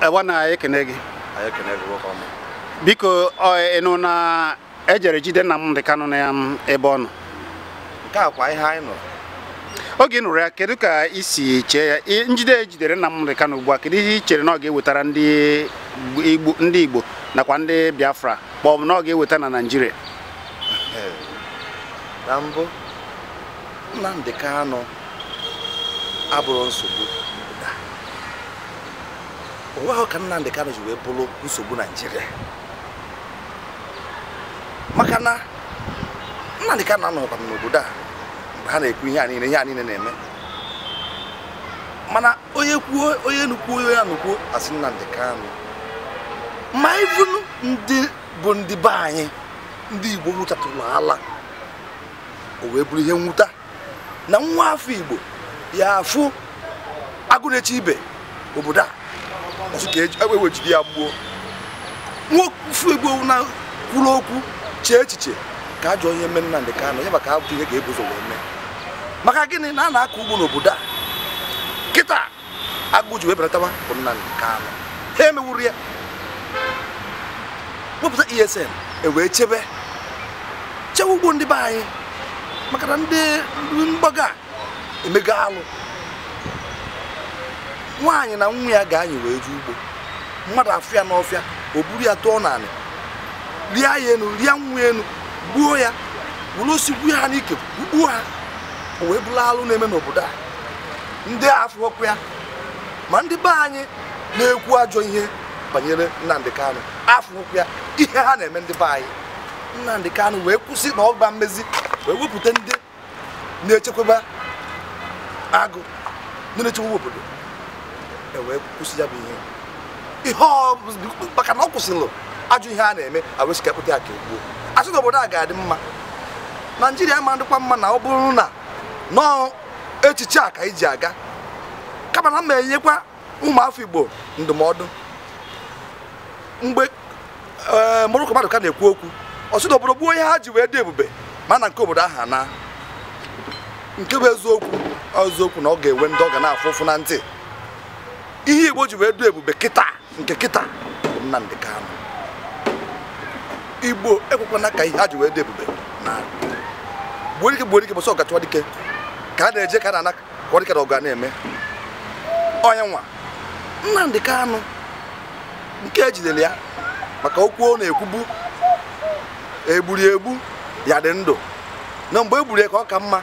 ewa na ekene gị biko ịnụ na ejere jide Nnamdi Kanu na ebe ọ nọ nke a kwa ihe anyị nọ oge ị nụrụ ya kedu ka i si chee ya njide ejidere Nnamdi Kanu ugbu a kedu ihe i chere na ọ ga-ewetara ndị Igbo nakwa ndị Biafra ma ọ bụ na ọ ga-eweta na Naịjirịa na mbụ Nnamdi Kanu abụhọ nsogbu o nwehọ ka Nnamdị Kanụ ji wee bụrụ nsogbu Naijiria maka na Nnamdị Kanụ anọkwa n'obodo a mgbe ha na-ekwu ihe a niile ihe a niile na-eme mana onye kwuo onye nukwu onye ya nukwu a sị Nnamdị Kanụ ma ịbụnụ ndị bụ ndị be anyị ndị Igbo nwụchatụrụ ala o wee bụrụ ihe nwute na nwa afọ igbo ya afụ agụ na-echebe obodo a ọ sị ka e wee jide ya gbuo nwa afọ igbo na-ekwuru okwu chee echiche ka ajọ ihe mee Nnamdị Kanụ ya maka abụ ihe ga-ebu ụzọ wee mee maka gịnị na a na-akọ ugbo n'obodo a kịta agụụ ji wee belatawa bụ Nnamdi Kanu ha emewuru ya wepụta ESN e wee chebe chebe ugbo ndị be anyị maka na ndị mgbaga emego alụ nwaanyị na nwa ya ga-eyi wee jee ugbo mmadụ afụ ya n'ọfịa o buru ya tụọ n'anị rịa ya enu rịa nwa enu gbuo ya were osisi gbuo ha n'ike gbuo ha o wee bụrụ alụ na-eme n'obodo a ndị a afụhọkwa ya ma ndị be anyị na-ekwu ajọ ihe banyere Nnamdi Kanu afụhọkwa ya ihe ha na-eme ndị be anyị Nnamdi Kanu wee kwusi na ọ ma emezi wee wepụta ndị na-echekwaba agụ ndị na-echekwa obodo e wee kwụsị ya bụ ihe ihe ọ bụ- maka na ọ kwụsịrị ajọ ihe a na-eme e wee sị kpụta ya ka e gbuo a sị na obodo a ga-adị mma naijiria ama adịkwa mma na ọ bụrụ na nọọ echiche a ka anyị ji aga kama na m na-enyekwa ụmụ afọ igbo ndụmọdụ mgbe ee Morocco Maduka na-ekwu okwu ọ sị na obodo gbuo ihe ha ji wee dị ebube ma na ike obodo ahụ anaa nke bụ eziokwu ọ eziokwu na ọ ga-enwe ndị ọ ga na-afụ ụfụ na ntị ihe igbo ji wee dị ebube kịta nke kịta bụ Nnamdi Kanu igbo ekwekwana ka ihe ha ji wee dị ebube naa gbuo dike gbuo dike mbọsị ọgụ a chọwa dike ka a na-eje ka a na-ana kwa dike na ọgụ a na-eme ọ ya nwa Nnamdi Kanu nke ejidere ya maka okwu ọ na-ekwubu egburu egbu ya dị ndụ na mgbe egburu ya ka ọ ka mma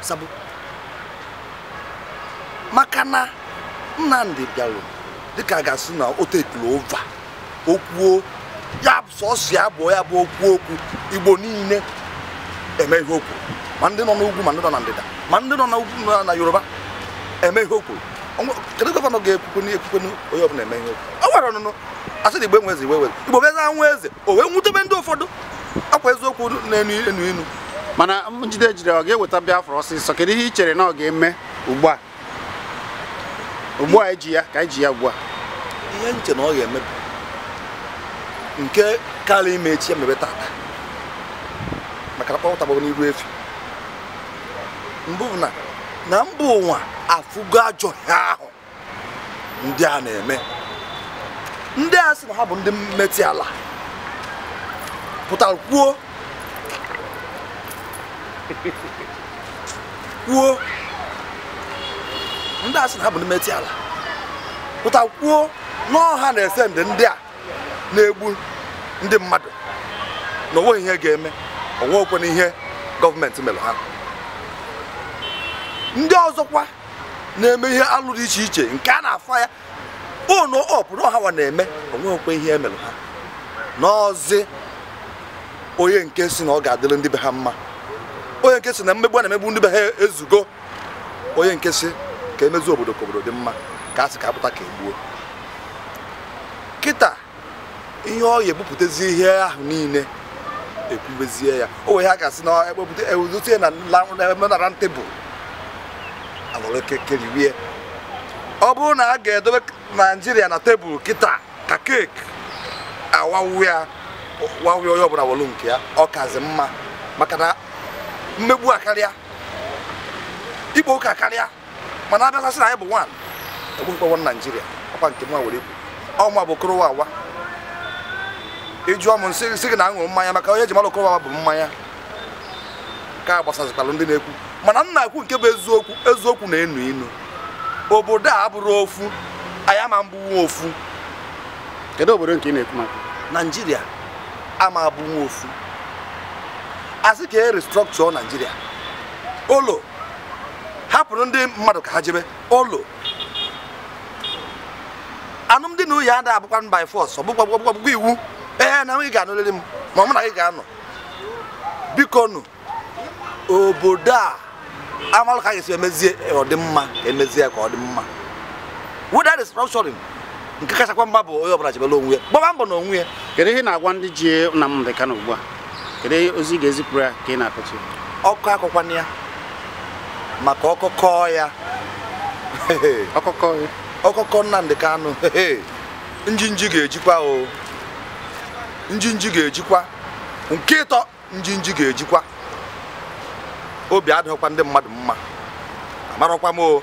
sabu maka na Nnamdi bịara dịka a ga-asị na o takeuru over o kwuo ya sọsọ ya bụ ya bụ okwu okwu igbo niile eme ihe o kwuru ma ndị nọ n'ugwu ma ndị nọ na ndịda ma ndị nọ na ugwu nọ na yoruba eme ihe o kwuru Ọnwụ- kedu gọvanọ ga-ekwukwe na ekwukwe na onye ọbụla eme ihe o kwuru o nwere ọnụnụ a sị na igbo enwe eze igbo enwe eze igbo bụ eze enwe eze o wee wutebe ndị ụfọdụ ọkwa eziokwu na-enu inu inu mana njide e jiri ọ ga-eweta Biafra ọsịsọ kedu ihe i chere na ọ ga-eme ugbu a ugbu a eji ya ka eji ya ugbu a ihe m che na ọ ga-eme nke karị ime echi emebe tata maka na kpọpụta gbagbo n'iru efi mbụ bụ na na mba ụwa afụgo ajọ ihe ahụ ndị a na-eme ndị a sị na ha bụ ndị Miyetti Allah pụtara kwuo kwuo ndị a sị na ha bụ ndị Miyetti Allah pụtara kwuo n'ọha na eze ndị ndị a na-egbu ndị mmadụ na o nweghị ihe ga-eme o nweghịkwanụ ihe gọọmenti mere ha ndị ọzọkwa na-eme ihe alụ dị iche iche nke a na-afụ ya n'open na ọ hanwa na-eme o nweghịkwa ihe e mere ha n'ọzi onye nke sị na ọ ga-adịrị ndị be ha mma onye nke sị na mmegbu a na-emegbu ndị be ha ezugo onye nke sị ka e mezie obodo ka obodo dị mma ka a sị ka a kpụta ka e gbuo kịta ihe ọ ya-ebupụtazi ihe ahụ niile ekwubezie ya o wee ha ga-asị na ekpepụta ewudote na menara tebụl alụrụ keeki riwe ọ bụrụ na a ga-edobe naijiria na tebụl kịta ka keeki a wawaa ya wawaa ya onye ọbụla welu nke ya ọ kazi mma maka na mmegbu akarịa ịkpa oke akarịa mana a bịakwa sị na anyị bụ one egbukwa one naijiria ọkwa nke mwa were ikwu ọnwa bụ okorowa awa ị jụọ m m sị sị gị na aṅụrụ mmanya maka onye ji mara okorowa bụ mmanya ka a gbasazikwara ndị na-ekwu mana m na-ekwu nke bụ eziokwu eziokwu na-enu inu obodo a abụrụ ofu anyị ama abụwu ofu kedu obodo nke ị na-ekwu maka naijiria ama abụwu ofu a sị ka e restructure naijiria olo hapụrụ ndị mmadụ ka ha jebe ụlọ alụmdi na nwunye ada abụkwa by force ọ bụkwa bụkwa bụkwa iwu ee na ị ga-anụrịrị m ma mụ na gị ga-anọ biko nụ obodo a a malụ ka a ga-esi emezie ọ dị mma emezie ka ọ dị mma whether restructuring nke kachakwa mma bụ onye ọbụla jebere onwe ya gbaba mbọ na onwe ya kedu ihe ị na-agwa ndị ji Nnamdi Kanu ugbu a kedu ozi ị ga-ezipụrụ ya ka ị na-akọchi ọkọ akọkwana ya maka ọkọ kọọ ya ọkọ kọọ Nnamdi Kanu njinji ga-ejikwa o njinji ga-ejikwa nke ịtọ njinji ga-ejikwa obi adịrọkwa ndị mmadụ mma amarọkwa m o